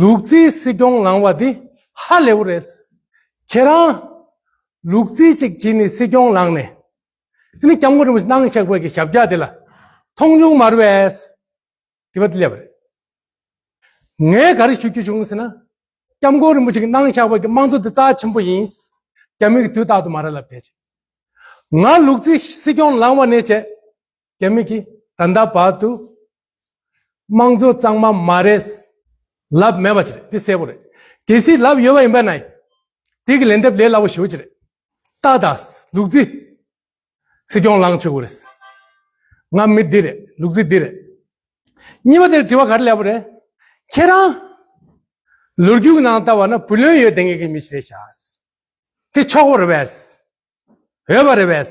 ལུག་རྫི་སྲིད་སྐྱོང་ལང་བ་འདི་ཧ་ལས་བོ་རེད། ཁྱེད་རང། ལུག་རྫི་ཅིག་བྱས་ནས་སྲིད་སྐྱོང་ལངས་ནས། དེ་ནས་སྐྱབས་མགོན་རིན་པོ་ཆེ་སྣང་བཞག་བོད་ཀྱི་ཞབས་བཀྱག་དེ་ལ། མཐོང་ཆུང་མ་རེད་བས། དྲི་བ་འདི་ལས་པ་རེད། ངས་ག་རེ་ཞུ་རྒྱུ་བྱུང་ཟེར་ན། སྐྱབས་མགོན་རིན་པོ་ཆེ་གི་སྣང་བཞག་བོད་ཀྱི་དམངས་གཙོ་འདི་རྩ་ཆེན་པོ་ཡིན། རྒྱ་མི་གི་དུས་རྟག་ཏུ་མ་རེད་ལབ་བསྡད་བྱས། ང་ལུག་རྫི་སྲིད་སྐྱོང་ལང་བ་ནས་བྱས། རྒྱ་མི་གིས་ད་ལྟ་བར་དུ་དམངས་གཙོ་གཙང་མ་མ་རེད། ལབ་མེད་པ་ཅི་རེད་འདི་གསལ་པོ་རེད། གལ་སྲིད་ལབ་ཡོད་པ་ཡིན་པ་ན་ཡང་དེ་གི་ལན་འདེབས་ལས་སླ་བོ་ཞུ་བ་ཅི་རེད། ཏག་ཏག་ལུག་རྫི། སྲིད་སྐྱོང་ལངས་ཆོག་གི་རེད། ང་མི་འདི་རེད་ལུག་རྫི་འདི་རེད། གཉིས་པ་དེར་དྲི་བ་ག་རེ་ལས་པ་རེད། ཁྱེད་རང། ལོ་རྒྱུས་ཀྱི་ནང་ལྟ་བ་ན་བུ་ལོན་ཡོད་ལྡེ་ངེས་ཀྱི་མི་ཞིག་རེད་བྱ། དེ་ཆོག་པ་རེད་བས། འོས་པ་རེད་བས།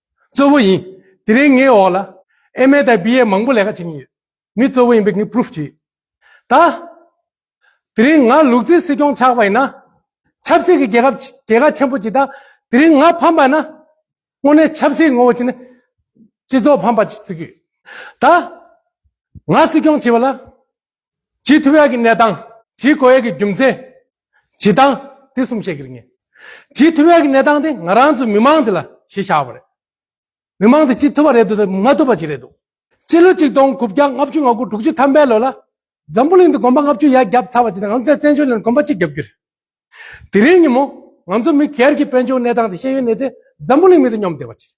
གཙོ་བོ་ཡིན། དེ་རིང་ངའི་འོག་ལ MA དང BA མང་པོ་ལས་ཀ་བྱེད་ཀྱིན་ཡོད། མི་གཙོ་བོ་ཡིན་པའི་ངས Proof བྱས་ཡོད། ད་དེ་རིང་ང་ལུག་རྫི་སྲིད་སྐྱོང་ཆགས་པ་ཡིན་ན། ཆབ་སྲིད་ཀྱི་རྒྱལ་ཁབ་རྒྱལ་ཁ་ཆེན་པོ་ཅིག་དང་དེ་རིང་ང་ཕམ་པ་ན། དངོས་གནས་ཆབ་སྲིད་ངོ་བོ་ཅན་ནི་སྤྱི་ཚོགས་ཕམ་པ་ཅིག་བརྩི་གི་ཡོད། ད་ང་སྲིད་སྐྱོང་བྱས་པ་ལ། ཇི་ཐུ་ཡ་གི་གནས་སྟངས། ཇི་གོ་ཡ་གི་རྒྱུ་མཚན། ཇི་སྟངས། དེ་གསུམ་བཤད་ཀྱི་རེད་ངེས། ཇི་ཐུ་ཡ་གི་གནས་སྟངས་དེ་ང་རང་ཚོའི་མི་དམངས་དེ་ལ་ཞེས་བྱ་བ་རེད། མི་དམངས་དེ་ཅི་ཐུབ་པ་རེད་འདུག་དང་མ་ཐུབ་པ་ཅི་རེད་འདུག། སྤྱི་ལོ་ཆིག་སྟོང་དགུ་བརྒྱ་ལྔ་བཅུ་ང་དགུ་དྲུག་བཅུ་ཐམ་པའི་ལོ་ལ། འཛམ་བུ་གླིང་དུ་དགོན་པ་ལྔ་བཅུ་ཡར་བརྒྱབ་ཚར་བ་ཇི་ལྟར་ང་ཚོ་ཚེ་བཙན་བྱོལ་ནང་དགོན་པ་གཅིག་བརྒྱབ་རྒྱུ་རེད། དེ་རིང་ཉིན་མོ། ང་ཚོ་མི་སྒེར་གྱི་དཔལ་འབྱོར་གནས་སྟངས་དེ་ཤེས་ཡོན་གནས་ཚེ་འཛམ་བུ་གླིང་མི་དེ་སྙོམས་བདེ་བ་ཅི་རེད།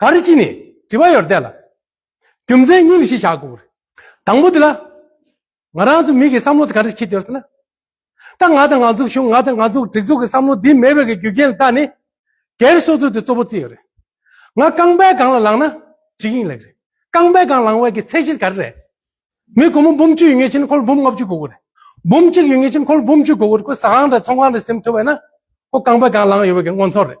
ག་རེ་ཅི་ནས་དྲི་བ་ཡོད་བལྟས་ལ། རྒྱུ་མཚན་གཉིས་ལ་ཤེས་བྱ་དགོས་པར། དང་པོ་དེ་ལ། ང་རང་ཚོ་མི་གི་བསམ་བློ་དེ་ག་རེ་ཁྱེད་ཀྱི་ཟེར་ན། ད་ང་དང་ང་ཚོ་གཞུང་ང་དང་ང་ཚོ་སྒྲིག་འཛུགས་ཀྱི་བསམ་བློ་འདི་མེད་པའི་རྒྱུ་རྐྱེན་ལ་བལྟ་ནས། སྒེར་སོ་སོ་དེ་གཙོ་བོ་བརྩི་ཡོད་རེད། ང་རྐང་པའི་སྒང་ལ་ལངས་ན་ཇི་ཡིན་ལེགས་རེད། རྐང་པའི་སྒང་ལངས་བའི་གི་ཚད་གཞི་ག་རེ་རེད། མི་དགོང་མོ་འབུམ་བཅུ་ཡོད་ངེས་ཕྱིན་ཁོ་ལ་འབུམ་ལྔ་བཅུ་དགོས་གི་རེད། འབུམ་གཅིག་ཡོད་ངེས་ཕྱིན་ཁོ་ལ་འབུམ་བཅུ་དགོས་གི་རེད་ཁོ་ཟ་ཁང་རེད་ཚོང་ཁང་རེད་སེམས་ཐོས་བས་ན། ཁོ་རྐང་པའི་སྒང་ལངས་ཡོད་བའི་གི་མངོན་ཚོར་རེད།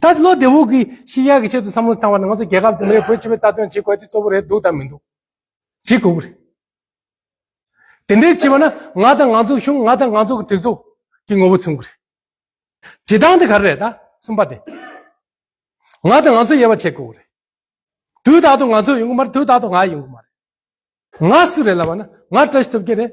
ད་བློ་བདེ་བོ་གིས་ཤི་ཡག་གི་ཆེད་དུ་བསམ་བློ་བཏང་བ་ན་ང་ཚོ་རྒྱལ་ཁབ་དེ་འདྲའི་བོད་སྤྱི་བའི་རྩ་དོན་བྱེད་དགོས་དེ་གཙོ་བོ་རེད་འདུག་དང་མི་འདུག་བྱེད་དགོས་ཀྱི་རེད། དེ་འདྲའི་བྱས་པ་ན་ང་དང་ང་ཚོའི་གཞུང་ང་དང་ང་ཚོ་གི་སྒྲིག་འཛུགས་ཀྱི་ངོ་བོ་མཚོན་གྱི་རེད། བྱེད་སྟངས་དེ་ག་རེ་རེད་ད་གསུམ་པ་དེ། ང་དང་ང་ཚོའི་དབྱེ་བ་ཕྱེ་དགོས་ཀྱི་རེད། དུས་རྟག་ཏུ་ང་ཚོའི་ཡོང་གི་མ་རེད་དུས་རྟག་ཏུ་ང་ཡོང་གི་མ་རེད། ང་སུ་རེད་ལབ་པ་ན་ང་བཀྲ་ཤིས་ཐོབ་ཀྱི་རེད།